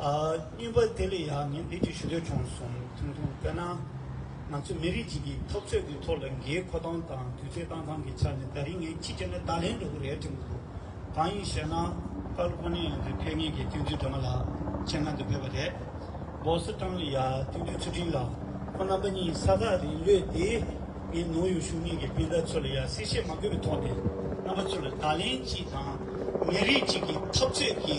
སྨྱོན་པ་དེ་ལས་ཡག་ངས་འདི་འདྲི་ཞུ་འདོད་བྱུང་སོང་ཐུང་ཐུང་དཔེར་ན། ང་ཚོ་མི་རིགས་གཅིག་གི་འཐབ་རྩོད་ཀྱི་ཐོག་ལ་འགའི་ཁོ་སྟངས་དང་དུས་ཚོད་བཏང་སྟངས་ཀྱི་ཆ་ནས་ད་རིང་ངས་ཅི་བྱས་ནས་བརྡ་ལན་འགྲོ་གི་རེད་དྲན་གི་འདུག་གང་ཡིན་ཞེ་ན། ཀར་ཀོ་ནི་ཡང་དུས་ཕེབས་ངེས་ཀྱི་སྟོན་དུས་སྒྲོལ་མ་ལགས་མཆན་ཁང་དུ་ཕེབས་པ་རེད། སྦོ་སི་ཀྲང་ལི་ཡ་སྟོན་དུས་ཚུལ་ཁྲིམས་ལགས་ཁོ་རྣམ་པ་གཉིས་ས་ཐག་རིང་ལོས་དེ། ངས་ནུའུ་ཡོག་གཞུང་གཉིས་ཀྱི་སྤུན་ཟླ་ཚོ་ལ་ཡང་གསལ་བཤད་མ་དགོས་པའི་ཐོག་ནས་རྣམ་པ་ཚོ་ལ་བརྡ་ལན་གཅིག་དང། མི་རིགས་གཅིག་གི་འཐབ་རྩོད་ཀྱི།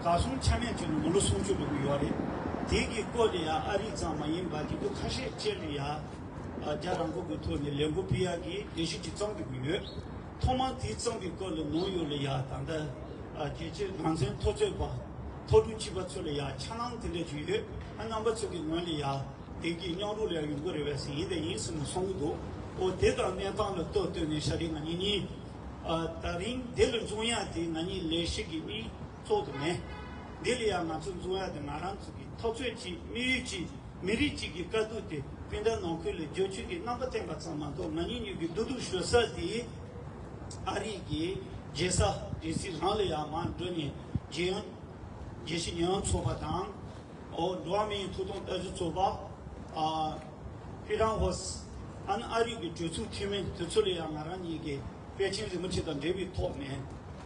བཀའ་གསུང་ཆ་མེད་བྱོན་ནས་མི་ལོ་སུམ་ཅུ་ལོན་པོ་ཡོད་རེད། དེ་གི་སྐོར་ནས་ཡང་ཨ་རིག་ཙང་མ་ཡིན་པ་དེ་ཚོ་ཁ་ཤས་བཅད་ནས་ཡང་རྒྱ་རང་ཁུག་གི་ཐོག་ནས་ལས་འགུ་ཕི་ཡ་གི་ལས་ཤིག་ཅིག་གཙང་དགོས་ཀྱི་ཡོད། ཐོག་མར་དེའི་གཙང་གི་སྐོར་ལ་ནོར་ཡོད་ལ་ཡང་ད་ལྟ་རྒྱལ་སྤྱིའི་ནང་ཚན་མཐོ་རྩོད་པ་མཐོ་གྲུ་གཅིག་པ་ཚོ་ལ་ཡང་འཆར་སྣང་དེ་འདྲ་ཅིག་ཡོད་ཨ་རྣམ་པ་ཚོ་གི་ངོས་ནས་ཡང་དེང་གི་སྙང་རུང་ལ་ཡང་ཡོང་གི་རེད་བས་ཟིན་ཡིན་ད་ཡིན་ཟེར་ནས་སོང་གི་འདུག་ཨོ་དེ་དང་གནས་སྟངས་ལ་ལྟོས་ལྟོས་ནས་ཤ་རི་ང་གཉིས་གཉིས། ད་རིང་འདི་ལ་འཛུམ་ཡག་དེ་ང་གཉིས་ལས་ཤིག་གི་དམིགས་ཚོགས་དུ་མེད། འདི་ལ་ཡང་ང་ཚོ་འཛུམ་ཡག་དེ་ང་རང་ཚོ་གི་ཐོབ་ཚོད་ཀྱིས་དམིགས་ཡུལ་གྱིས་མི་རིགས་གཅིག་གི་དཀའ་སྡུག་དེ་སྤུན་ཟླ་ནང་ཁུལ་ལ་བརྗོད་ཚུལ་གྱི་རྣམ་པ་བསྟན་པ་ཙམ་མ་གཏོགས་ང་གཉིས་གཉིས་ཀྱི་སྡུག་སྡུག་ཞོད་ས་དེ་ཨ་རིག་གི་རྒྱལ་ས་རྒྱལ་སྲིད་རང་ལ་ཡང་མར་འགྲོ་ནས་རྒྱལ་ཡོངས་རྒྱལ་སྤྱི་ཉེ་ཡོང་ཚོགས་པ་དང། འགྲོ་བ་མི་ཡི་ཐུགས་དང་ལྟ་ཅི་རྩོད་པ། ཧྥི་ཀྲང་ཧོ་སཱན་ཨ་རིག་གི་གྲོས་ཚུགས་འཐུས་མི་དེ་ཚོ་ལ་ཡང་ང་རང་ཉིད་ཀྱིས་པེ་ཅིན་རིན་པོ་ཆེ་དང་འབྲེལ་བའི་ཐོག་ནས།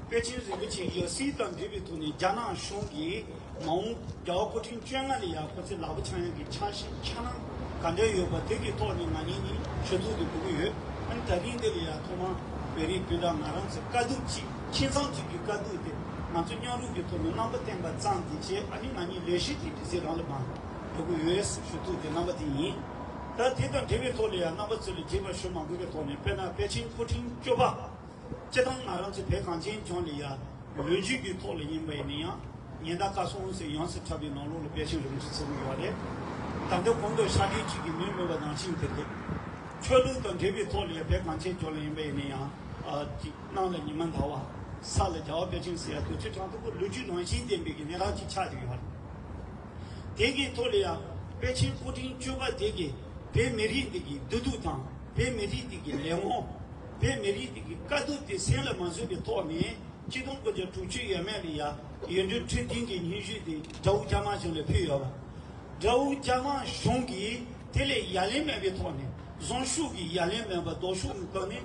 པེ་ཅིན་རིན་པོ་ཆེ་ཡཱ་སི་དང་འབྲེལ་བའི་ཐོག་ནས་རྒྱ་ནག་གཞུང་གིས་མ་འོངས་རྒྱལ་བ་སྐུ་ཕྲེང་བཅོ་ལྔ་ལ་ཡང་ཁོ་ཚོའི་ལག་པ་འཆང་ཡ་གི་འཆང་ཤེས་འཆང་སྣང་ག་འདྲ་ཡོད་པ་དེ་གི་ཐོག་ནས་ང་ཉིད་ནི་ཆོས་ཚུགས་དེ་འབུལ་གྱི་ཡོད། ད་རིང་འདི་ལ་ཡང་ཐོག་མར་བེ་རི་སྤུན་ཟླ་ང་རང་ཚོས་དཀའ་སྡུག་ཅིག། ཁྱིམ་ཚང་གཅིག་གི་དཀའ་སྡུག་དེ་ང་ཚོས་སྙིང་རུས་ཀྱི་ཐོག་ནས་རྣམ་པ་བསྟན་པ་ཙམ་གྱིས་ཆེད་ཨ་ནེ་ང་གཉིས་ལས་གཞི་དེའི་འདྲི་རྩད་རང་ལ་མ་འགྲོ་གི་འོས་སུ་ཞུ་ཐུབ་པའི་རྣམ་པ་དེ་ཡིན། ད་དེ་དང་འབྲེལ་བའི་ཐོག་ལ་ཡང་རྣམ་པ་ཚོ་ལས་བརྗེད་པར་ཞུ་མ་དགོས་པའི་ཐོག་ནས་དཔེར་ན་པེ་ཅིང་མཁོ་འཕྲིན་སྐྱོབ་པ། སྤྱིར་བཏང་ང་རང་ཚོའི་བོད་གངས་ཅན་ལྗོངས་ལ་ཡང་ལོ་རྒྱུས་ཀྱི་ཐོག་ལ་ཡིན་པ་ཡིན་ན་ཡང་ཉེན་བརྡ་བཀའ་སྲུང་ཟེར་ཡོངས་སུ་ཁྲབ་པའི་ནང་ལོགས་ལ་པེ་ཅིང་རིམ་གྲས་ཚད་མེད་ཡོད་རེད། ད་ལྟ་གོང་དུ་ཤར་རྒྱུད་གཅིག་གི་མིང་སྨོས་པ་ནང་བཞིན་དེ་རེད། ཆོས་ལུགས་དང་འབྲེལ་བའི་ཐོག་ལ་ཡང་བོད་གངས་ཅན་ལྗོངས་ལ་ཡིན་པ་ཡིན་ན་ཡང། སྣང་ལ་ཉི་མ་འདའ་བ། ས་ལ་རྒྱ་བ་བཀའ་དྲིན་གཟི་ཡ་བདུད་རྩི་གྲངས་མཐོ་པོ་ལུས་རྒྱུད་ནང་བཞིན་ལྡན་པའི་གི་ནས་རག་ཅིག་ཆགས་ཀྱི་ཡོད་རེད། དེ་གའི་ཐོག་ལ་ཡང་དཔལ་ཆེན་སྐུ་དྲིན་གཅོད་པ་དེ་གའི་བོད་མི་རིགས་འདི་གི་བདེ་སྡུག་དང་བོད་མི་རིགས་འདི་གི་ལས་དབང། བོད་མི་རིགས་འདི་གི་དཀའ་སྡུག་དེ་གསན་ལ་མ་བཟོད་པའི་ཐོག་ནས་སྤྱི་སྟོང་དགུ་བརྒྱ་དྲུག་ཅུ་ཡས་མས་ལ་ཡ་ཡོད་འདུན་འཕྲོད་བསྟེན་གི་སྙན་ཞུ་དེ་དགྲ་བོ་རྒྱ་དམར་གཞུང་ལ་ཕུལ་ཡོད་པ། དགྲ་བོ་རྒྱ་དམར་གཞུང་གིས་དེ་ལས་ཡ་ལན་མེད་པའི་ཐོག་ནས་བཟང་ཤུགས་ཀྱི་ཡ་ལན་མེད་པར་ལྡོག་ཤུགས་ནི་བཏང་ནས།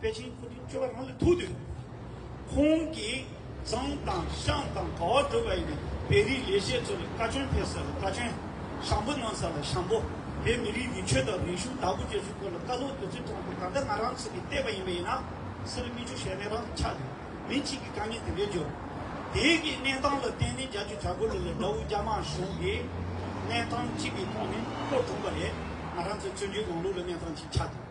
པེ་ཅིང་ཁུལ་དུ་སྤྱོད་པ་རང་ལ་ཐུག་དུས། ཁོང་གིས་ཙང་དང་ཤང་དང་གྲྭ་བ་སྒྲུབ་པ་ཡིན་པའི་བེ་རིའི་ལས་བྱེད་ཚོ་ལ་བཀའ་བཀྱོན་ཕེབས་ས་ལ་བཀའ་བཀྱོན། ཞང་པོ་གནང་ས་ལ་ཞང་པོ། བོད་མི་རིགས་ཀྱི་ཆོས་དང་རིག་གཞུང་དར་རྒུད་སྐྱེད་ཚུལ་སྐོར་ལ་བཀའ་སློབ་བདུད་རྩི་དྲངས་ཏེ་ད་ལྟ་ང་རང་ཚོ་གིས་བལྟས་པ་ཡིན་པ་ཡིན་ན། སེར་སྨད་ཆུ་ཞལ་མེ་རང་དུ་ཆགས་ཏེ་མི་གཅིག་གིས་དཀའ་ངལ་དེ་འདྲའི་འབྱོར། དེའི་གི་གནས་སྟངས་ལ་བརྟེན་ནས་རྒྱ་ཆུ་བྱ་རྒོད་ལུ་ལ་དགྲ་བོ་རྒྱ་དམར་གཞུང་གིས་གནས་སྟངས་གཅིག་གི་ཐོག་ནས་བསྐོར་བསྒྲུངས་པ་རེད། ང་རང་ཚོའི་བཙོན་འཇུག་ལམ་ལུགས་ལ་གནས་སྟངས་གཅིག་ཆགས་ཏེ།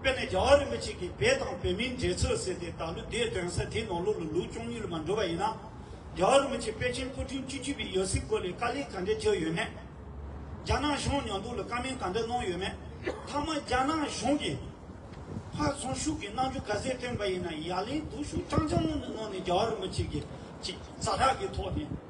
དཔེར་ན་རྒྱལ་བ་རིན་པོ་ཆེ་གིས་བལ་དང་བོད་མིའི་འབྲེལ་ཚོད་ཟེར་ཏེ་ད་ལོ་འདས་དོན་ས་དེའི་ནང་ལོ་ལོ་ལུགས་བཅུ་གཉིས་ལ་མ་འགྲོ་བ་ཡིན་ན། རྒྱལ་བ་རིན་པོ་ཆེ་པེ་ཅིན་སྐུ་ཕྲེང་བཅུ་བཅུ་པའི་ཡོལ་སྲིད་སྐོར་ལས་དཀའ་ལས་ག་འདྲ་བྱས་ཡོད་མེད། རྒྱ་ནག་གཞུང་ཉོ་འདུག་ལ་དཀའ་མིན་ག་འདྲ་གནང་ཡོད་མེད། མཐའ་མ་རྒྱ་ནག་གཞུང་གིས་ཕར་ཚོང་ཤུགས་ཀྱིས་གནང་རྒྱུ་ག་ཟེར་བཏོན་པ་ཡིན་ན་ཡ་ལན་སྡུག་ཤུགས་ཅང་ཅང་ངོ་ནས་གནང་ནས་རྒྱལ་བ་རིན་པོ་ཆེ་གིས་ཅིག་རྩ་དྲག་གི་ཐོག་ནས།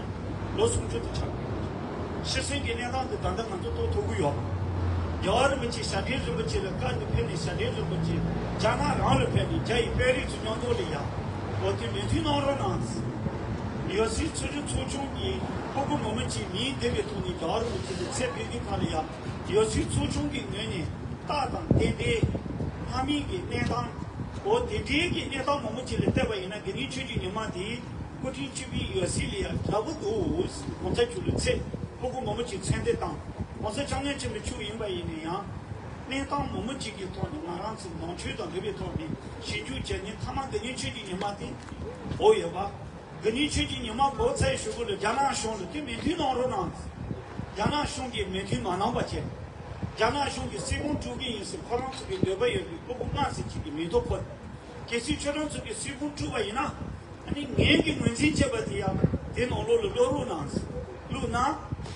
ལོ་སུམ་ཅུ་དུ་ཆགས་ཡོད། ཤི་གསོན་གྱི་གནས་སྟངས་དེ་ད་ལྟ་ང་ཚོ་རྟོགས་ཐུབ་གི་ཡོད། རྒྱལ་བ་རིན་པོ་ཆེས་ཞབས་དྲེན་རིན་པོ་ཆེ་ལ་བཀའ་འདི་ཕེབས་ནས་ཞབས་དྲེན་རིན་པོ་ཆེས་རྒྱ་ནག་རང་ལ་ཕེབས་ནས་རྒྱ་ཡི་དཔོན་རིགས་ཚོ་སྙོན་ཐོག་ལས་ཡག་པོ་དེ་མི་མཐུན་གནང་རོགས་གནང། ཡོད་སའི་ཆོས་རྒྱུད་ཚོགས་ཆུང་གི་སྤུ་གུ་མོ་མོ་ཆེ་མིའི་སྡེ་བའི་ཐོག་ནས་རྒྱལ་བ་རིན་པོ་ཆེ་ལ་ཚད་ཕེབས་རྒྱུ་ག་ལ་ཡག་ཡོད་སའི་ཚོགས་ཆུང་གི་ངོས་ནས་རྟགས་དང་རྟེན་འབྲེལ། ལྷ་མིན་གྱི་གནས་སྟངས། འོ་དེ་འདྲའི་གི་གནས་སྟངས་མོ་མོ་ཆེ་ལ་བལྟས་པ་ཡིན་ན་དགེ་འདུན་ཆོས་ཀྱི་ཉི་མ་དེའི་སྐུ་ཕྲེང་བཅུ་པའི་ཡོལ་སྲིད་ལས་ཡར་དལ་བུ་འདུག་གོང་ས་བཅུ་ལོའི་ཚེ་སློབ་བུ་མོ་མོ་གཅིག་མཚན་འདེབས་དང་གོང་ས་ལྕགས་སྣོན་ཆེན་པོའི་ཕྱུག་ཡིན་པ་ཡིན་ནས་ཡང། གནས་སྟངས་མོ་མོ་གཅིག་གི་ཐོག་ནས་ང་རང་ཚོས་ནང་ཆོས་དང་འབྲེལ་བའི་ཐོག་ནས་ཞིབ་འཇུག་བྱས་ནས་མཐའ་མ་འདི་ཉིད་ཆོས་ཀྱི་ཉི་མ་སྟེ། བོ་ཡོད་པ། འདི་ཉིད་ཆོས་ཀྱི་ཉི་མ་བོ་ཚ་ཡི་ཤོག་བུ་ལ་རྒྱ་ནག་གཞུང་ལ་དེ་མོས་མཐུན་གནང་རོགས་གནང། རྒྱ་ནག་གཞུང་གིས་མོས་མཐུན་མ་གནང་བ་བཅས། རྒྱ་ནག་གཞུང་གིས་སྲིད་དཔུང་དཀྲུག་གི་ཡིན་ཟེར་ཁོ་རང་ཚོ་གི་འདོད་པ་ཡོད་པའི་སློབ་བུ་སྔགས་ཟེར་གཅིག་གི་མིང་ཐོ་འཁོད། གལ་སྲིད་ཁྱོད་རང་ཚོ་གི་སྲིད་ཁུངས་དཀྲུགས་པ་ཡིན་ན། ནི་ངན་གྱི་ངོས་འཛིན་བྱས་པ་དེ་ཡང་དེ་ནང་ལོགས་ལ་བློ་རུང་ནང་བླུགས་ན།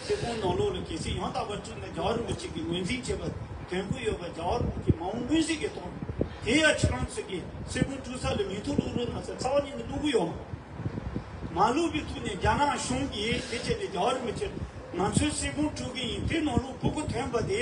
སྲིད་ཁུངས་ནང་ལོགས་ལ་གལ་སྲིད་ཡང་དག་པར་དཀྲུགས་ན་རྒྱ་རིན་པོ་ཆེ་གི་ངོས་འཛིན་བྱས་པ་དོན་གུ་ཡོད་པ་རྒྱ་རིན་པོ་ཆེ་མ་འོངས་སྔོན་སྲིད་ཀྱི་ཐོག་ནས་དེ་ཡང་ཁྱོད་རང་ཚོ་གི་སྲིད་ཁུངས་དཀྲུགས་ས་ལ་མིང་ཐོ་བླུགས་རུང་ན་ཚ་ཚ་བ་ཉིད་ནས་བླུགས་གུ་ཡོད། མ་བླུགས་པའི་ཐུགས་ནས་རྒྱ་ནག་གཞུང་གིས་དེ་བྱས་ནས་རྒྱ་རིན་པོ་ཆེ་ང་ཚོའི་སྲིད་ཁུངས་དཀྲུགས་གིན་ཡིན་དེ་ནང་ལོགས་བུ་གུ་ཐོན་པ་དེ་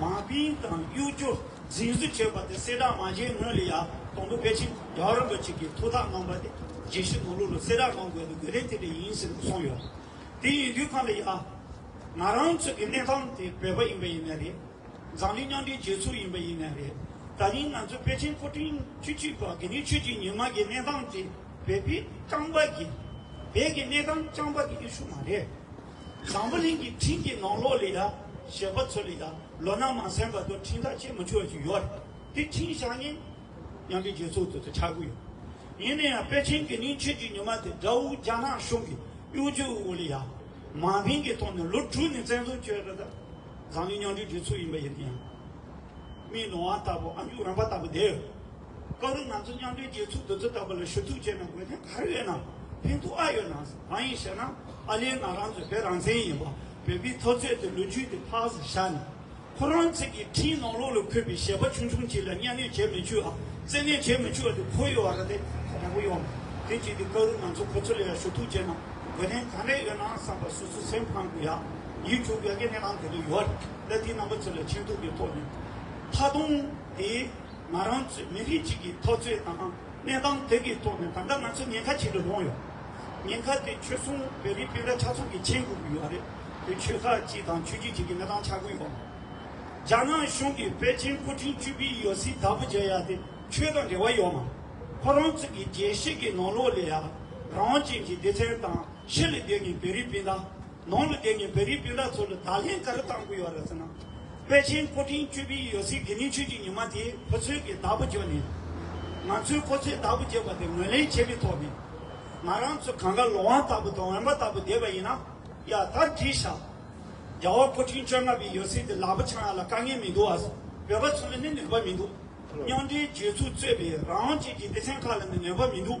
མ་དཔེའི་དང་གཡོ་སྒྱུ་རྫིང་བཟོ་བྱས་པ་དེ་སེར་དྲག་མ་བྱས་སྔོན་ལ་ཡག་དང་དུ་ཕལ་ཆེར་རྒྱ་རོ་འབོད་ཅིག་གིས་ཐུགས་ཐག་གནང་པ་དེ་རྗེས་ཤུལ་ནོར་ལུག་ལ་སེར་དྲག་གནང་དགོས་པའི་དགོས་གལ་དེ་འདྲ་ཡིན་ཟེར་ནས་གསུངས་ཡོད། དེ་ཡིན་དུས་ཁ་ལ་ཡག། ང་རང་ཚོ་གི་གནས་སྟངས་དེ་བོད་པ་ཡིན་པ་ཡིན་ནི་རེད། འཛམ་གླིང་མཉམ་འབྲེལ་རྒྱལ་ཚོགས་ཡིན་པ་ཡིན་ནི་རེད། ད་རིང་ང་ཚོ་ཕལ་ཆེར་མཁོ་འཕྲིན་ཆུ་གཅིག་པ་གི་ནི་ཆོས་ཀྱི་ཉི་མ་གི་གནས་སྟངས་དེ་བོད་པའི་རྐང་པ་གི་བོད་ཀྱི་གནས་སྟངས་རྐང་པ་གི་ཨེ་ཤུ་མ་རེད། བཟང་པོ་གླིང་གི་འཕྲིན་གྱི་ནང་ལོགས་ལས་ཡ་ཞེས་པ་ཚུར་ལས་ད་ལོ་ནང་མ་གསལ་བར་དུ་འཕྲིན་ཐག་ཆད་མི་ཆོད་ཅིག་ཡོད་རེད་དེ་འཕྲིན་བཞག་ཉིན། ཉམས་པའི་རྗེས་ཚུལ་དུ་དེ་ཆགས་དགོས་ཡོད། ཡིན་ན་ཡང་པེ་ཅིན་གྱི་ནིང་ཆོས་ཀྱི་ཉི་མ་དེ་དགྲ་བོ་རྒྱ་ནག་གཞུང་གི་གཡོ་སྒྱུ་དབུ་བོ་ལི་ཡ་མ་མིང་གི་ཐོག་ནས་ལོ་དྲུག་ནས་བཙན་བཟུང་བྱས་རེད་ད། བཟང་ངན་མཉམ་འབྲེལ་བྱེད་ཚུལ་ཡིན་པ་ཡིན་ན་ཡང། མིའི་ནོར་བ་ལྟ་བུ་ཨ་མཇུག་རམ་པ་ལྟ་བུ་དེ། སྐབས་རེ་ང་ཚོ་མཉམ་འབྲེལ་རྒྱལ་ཚོགས་འདི་ཚོ་ལྟ་བུ་ལ་ཞུ་གཏུག་བྱས་ན་དགོས་དོན་ག་རེ་ཡོད་ནམ་ཕན་ཐོག་ཨ་ཡོད་ནམ་གང་ཡིན་ཞེ་ན་ཨ་ལས་ང་རང་ཚོའི་བོད་རང་བཙན་ཡིན་པ་བོད་པའི་ཚོགས་གཙོས་ཏེ་ལོ་རྒྱུས་དེ་ཕག་སུ་བཞག་ནས་ཁོ་རང་ཚོད་ཀྱི་འཕྲིན་ནང་ལོགས་ལ་འཁོད་པའི་ཞལ་པ་ཆུང་ཆུང་གཅིག་ལ་གཉའ་གནོད་བྱེད་མི་ཆུག་ཨ་བཙན་གནོད་བྱེད་མི་ཆུག་ཨ་དེ་ཁོ་ཡི་བ་ར་དེ་ད་ལྟ་བུ་ཡོང་མེད་དེ་བྱས་ཏེ་སྐབས་རེ་ང་ཚོ་ཁོ་ཚོ་ལ་ཡང་ཞུ་གཏུག་བྱས་ན་དགོས་དོན་ག་རེ་ཡོད་ནམ་བསམ་པ་སུ་སུ་སེམས་ཕངས་དགོས་ཡ་ཡིད་འཁྱུག་དགོས་གནས་སྟངས་དེ་རེ་ཡོད་རེད་ལ་དེའི་རྣམ་པ་ཚོ་ལ་མཁྱེན་ཐུབ་པའི་ཐོག་ནས་ད་དུང་དེའི། ང་རང་ཚོའི་མི་རིགས་གཅིག་གི་ཐོག་ཚོད་དང་གནས་སྟངས་དེ་གི་ཐོག་ནས་ད་ལྟ་ང་ཚོ་ཉེན་ཁ་ཆེན་པོ་ལྷུང་ཡོད། ཉེན་ཁ་དེ་ཆོལ་གསུམ་བོད་རིགས་སྤུན་ཟླ་ཕྲག་ཚོགས་ཀྱི་མཆན་བསྐུར་གི་ཡོད་རེད་དེ་ཆོལ་ཁ་གཅིག་དང་ཆོས་རྒྱུད་གཅིག་གི་གནས་སྟངས་ཆགས་ཀུན་ཡོད། རྒྱ་ནག་གཞུང་གི་པེ་ཅིན་སྐུ་ཕྲེང་བཅུ་པི་ཡོ་སི་དྭགས་པོ་མཇལ་ཡ་དེ་ཆོས་དང་འབྲེལ་བ་ཡོད་མ། ཁོ་རང་ཚོ་གི་རྒྱལ་སྲིད་གི་ནང་ལོག་ལས་ཡ་རང་དབང་ཅན་གི་སྡེ་ཚན་དང་ཕྱི་ལ་བསྡད་ངེས་བོད་རིགས་སྤུན་ཟླ། ནང་ལ་བསྡད་ངེས་བོད་རིགས་སྤུན་ཟླ་ཚོ་ལ་བརྡ་ལྷན་ག་རེ་བཏང་གི་ཡོད་རེད་ཟེར་ན། པེ་ཅིན་སྐུ་ཕྲེང་བཅུ་པའི་ཡོད་ཚད་དགེ་ནུས་ཆོས་ཀྱི་ཉི་མ་དེ་ཁོ་ཚོའི་གི་བདག་པོ་བརྗོད་ནས། ང་ཚོས་ཁོ་ཚོའི་བདག་པོ་བརྗོད་པ་དེ་ངོས་ལེན་བྱས་པའི་ཐོག་ནས། ང་རང་ཚོ་གང་གཱ་ལོ་ཝང་ལྟ་བུ་དང་འོན་པ་ལྟ་བུ་བསྡད་པ་ཡིན་ན། ཡ་ད་འདྲིས་ཤག། རྒྱ་བོ་སྐུ་ཕྲེང་བཅོ་ལྔ་པའི་ཡོད་ཚད་དེ་ལག་པ་འཆང་ཡ་ལ་དཀའ་ངལ་མི་འདུག་ཨ། བོད་པ་ཚོ་ལ་ནི་ནུས་པ་མི་འདུག། རྙོག་འདྲའི་སྦྱོད་ཚུལ་རྩོད་པའི་རང་དབང་བཅས་ཀྱི་སྡེ་ཚན་ཁག་ལ་ནི་ནུས་པ་མི་འདུག།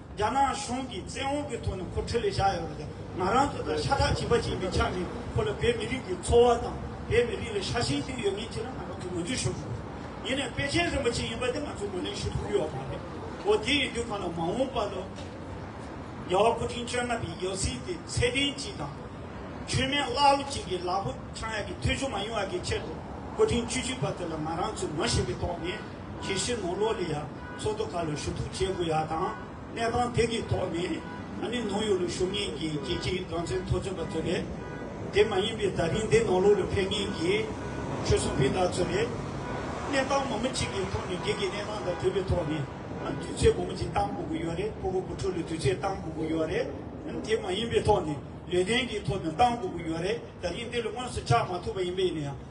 རྒྱ་ནག་གཞུང་གིས་བཙན་འོག་གི་ཐོག་ནས་ཁོ་འཕྲོད་ལས་བཞག་ཡོད་པ་དང་ང་རང་ཚོ་དང་ཤ་ཁྲག་གཅིག་པ་གཅིག་ཡིན་པའི་ཆ་ནས་ཁོ་ལ་བོད་མི་རིགས་ཀྱི་འཚོ་བ་དང་བོད་མི་རིགས་ལ་ཤ་ཞེན་ཞིག་ཡོད་མིན་ཆེད་ལ་ང་རང་ཚོས་ངོ་རྒྱུགས་ཞུ་དགོས། ཡིན་ནའི་པེ་ཅིན་རིན་པོ་ཆེ་ཡིན་པ་དེ་ང་ཚོས་ངོས་ལེན་ཞུ་ཐུབ་ཀྱི་ཡོད་པ་མ་རེད། འོ་དེ་ཡིན་དུས་ཁོ་ལ་མ་འོངས་པར་ལོ་རྒྱལ་བ་སྐུ་ཕྲེང་བཅོ་ལྔ་པའི་ཡོད་ཚད་དེ་ཚད་ལྡན་གཅིག་དང། ཆོས་མེད་ཀླ་ཀློ་གཅིག་གིས་ལག་པོ་འཆང་ཡག་གི་ཐོལ་བྱུང་མ་ཡོང་བ་གི་ཆེད་དུ་སྐུ་ཕྲེང་བཅུ་གཅིག་པ་དེ་ལ་ང་རང་ཚོས་ངོ་ཤེས་པའི་ཐོག་ནས། ཁྱི་ཤི་ནོ་ལོ་ལི་ཡཱ་མཚོ་དོ་ག་ལ་ཞུ་གཏུག་བྱེད་དགོས་ཡ་དང་གནས་སྟངས་དེ་གི་ཐོག་ནས་ཨ་ནི་ནོ་ཡོ་ལུ་ཞུགས་ངེས་ཀྱི་ཀྱི་ཀྱི་དགང་ཚན་ཐོ་ཚོད་པ་ཚོ་རེད་དེ་མ་ཡིན་པའི་ད་རིང་དེ་ནོ་ལོ་ལུ་ཕེབས་ངེས་ཀྱི་ཆོལ་གསུམ་ཕི་དག་ཚོ་རེད་གནས་སྟངས་མོ་མི་གཅིག་གི་ཐོག་ནས་གི་ཀྱི་གནས་སྟངས་དང་དུས་པའི་ཐོག་ནས་ཨ་དུས་ཚོད་མོ་མི་གཅིག་སྟངས་དགོ་གི་ཡོད་རེད་པོ་པོ་བུ་ཕྲུག་ལུ་དུས་ཚོད་སྟངས་དགོ་གི་ཡོད་རེད་ཨ་ནི་དེ་མ་ཡིན་པའི་ཐོག་ནས་ལུས་རྟེན་གི་ཐོག་ནས་སྟངས་དགོ་གི་ཡོད་རེད་ད་རིང་དེ་ལུ་དངོས་སུ་ཆགས་མ་ཐུབ་པ་ཡིན་པས་ཡིན་ན་ཡང།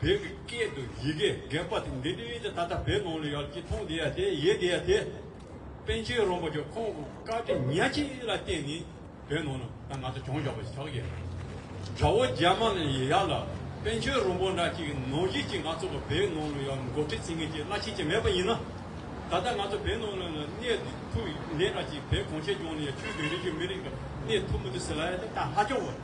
བོད་ཀྱི་སྐད་དུ་ཡི་གེ་རྒན་པ་དེ་འདི་ནས་ད་ལྟ་བོད་ནང་ལ་ཡོད་ཀྱི་ཐང་དེ་ཡ་དེ་ཡེ་དེ་ཡ་དེ། པན་ཆེན་རོང་པོ་ཀྱི་ཁོང་གི་བཀའ་དྲིན་ཉག་གཅིག་ལ་བརྟེན་ནས་བོད་ནང་ན་ད་ང་ཚོ་གྱོང་བཞག་པ་ཞིག་ཆགས་ཀྱི་ཡོད། དགྲ་བོ་རྒྱ་དམར་ནས་ཡ་ལ་པན་ཆེན་རོང་པོ་འདྲ་གཅིག་གི་ནང་བཞིན་གྱི་ང་ཚོ་གི་བོད་ནང་ལ་ཡོད་མགོ་ཁྲིད་ཚིག་ངན་གྱི་བླ་ཆེན་གཅིག་མེད་པ་ཡིན་ན། ད་ལྟ་ང་ཚོ་བོད་ནང་ལ་ནས་གནས་ཐུག་ནས་འདྲ་གཅིག་བོད་གངས་ཅན་ལྗོངས་ནས་ཡ་ཆོས་བོད་རིགས་ཀྱི་མི་རིགས་ཀྱི་གནས་ཐུག་མི་འདུག་ཟེར་ལ་ཡ་དེ་ད་ཧ་ཅང་བོ།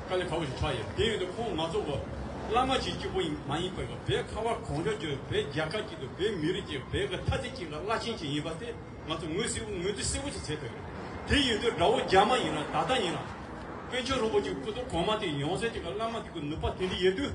དཀའ་ལས་ཁག་པོ་ཞིག་ཕྲ་ཡོད། དེ་ཡོད་དུ་ཁོང་ང་ཚོ་བོད་བླ་མ་ཞིག་གཅིག་པོ་ཡིན་མ་ཡིན་ཁོ་ཡིས་བོད་ཁ་བ་གང་མགྱོགས་བརྗོད་བོད་རྒྱལ་ཁབ་ཅིག་དང་བོད་མི་རིགས་ཅིག་བོད་ཀྱི་ཐ་ཚིག་ཅིག་ལ་བླ་ཆེན་ཞིག་ཡིན་པ་དེ་ང་ཚོ་ངོས་སེར་བོ་ངོས་དུ་སེར་བོ་ཞིག་བྱེད་ཐུབ་ཡོད། དེ་ཡོད་དུ་དགྲ་བོ་རྒྱ་དམར་ཡིན་རང་ད་ལྟ་ཡིན་རང། དཔོན་ཆེན་རིན་པོ་ཆེ་སྐུ་ཐོག་གོང་མ་དེ་ཡོང་ཟེར་ཅིག་གི་བླ་མ་དེ་གི་ནུས་པ་དེ་འདྲ་ཡོད་དུས།